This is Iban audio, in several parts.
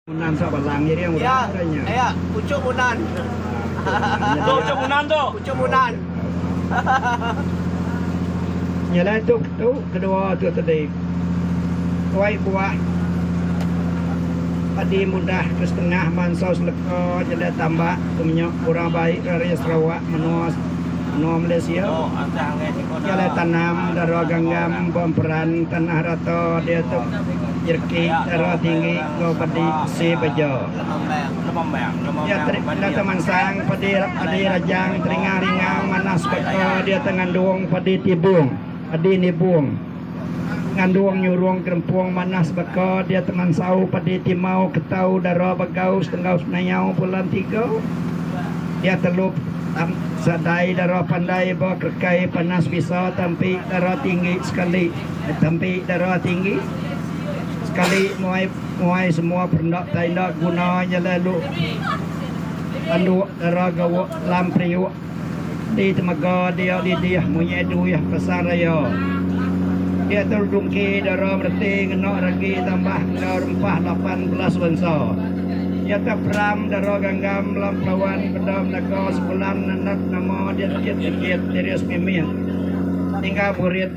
Munan sa balang nya dia orang ke nya. Ya ya pucuk munan. Tu pucuk munan tu. Pucuk munan. Nya lah tu tu kedua tu tadi. Tuai buah padi mudah ke setengah bansa seleka nya dah tambak tu nya orang baik rari Sarawak menua menua Malaysia. Nya lah tanam dara ganggam bemperan tanah rata dia tu. Jerki Darah Tinggi enggau Pedi Besi Bejo Dia Teri Data Mansang Pedi Edi Rajang Teringah Ringau Manah Sebaka Dia Te Ngandung Pedi Tibung Edi Nibung Ngandung Nyurung Kerempung Manah Sebaka Dia Te Mansau Pedi Timau Ketau Dara Bagau Setenggau Senayau Pulan Tiga Dia Telu Tam Sadai Dara Pandai Ba Kerekai Panas Bisa Tampi Dara Tinggi Sekali Tempi dara tinggi sekali muai muai semua perinda tenda guna nyelai lu panduk dara gawa lam periuk di temega dia didih munyai duih Pasar Raya. Diatu dungki dara mereti ngena ragi tambah enggau rempah lapan belas bansa. Nyata peram dara ganggam lam pelawan benda menaga sebulan anak nama diat kit sikit diri semimit. Tinggal burit.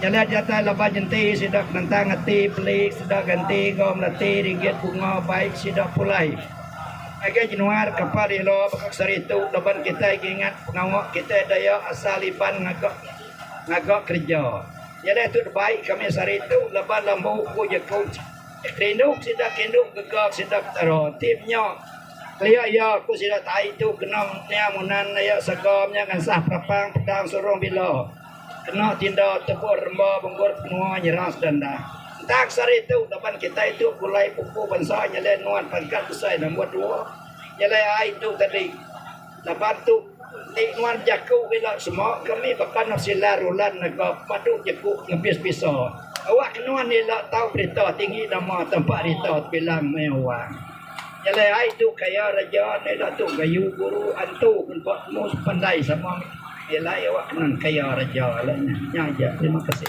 Jalai diatai laban nyenti sida ke nentang ati beli sida ganti enggau melati ringgit bunga bai sida pulai. Ngagai jenuar kapal relo baka sehari tu laban kitai ngingat pengawa kitai Dayak asal Iban ngaga ngaga kereja. Jalai tu dibai kami sehari tu laban lambu ku jeku rindu ke sida ke indu gegar ke sida Petara ti menya kelia iya ku sida tai tu kena niang munan aya serega menya ngansah perapang pedang surung bila. Kena tinda tebuk remba bengkut menua nyerang setanda. Entang sehari tu laban kitai tu pulai pupu bansa nyelai nuan pangkat besai nombor dua nyelai ai tu tadi laban tu enti nuan bejaku ke ila semua kami baka anak sila rulan mega padu jeku nebis bisa. Awak ke nuan ila tau berita tinggi nama tampa rita tebilang meh awang. Nyelai ai tu kaya reja andai datu gayu guru antu engka temu sepandai sama nyelai awak kenang kaya reja alai nyah aja terima kasih.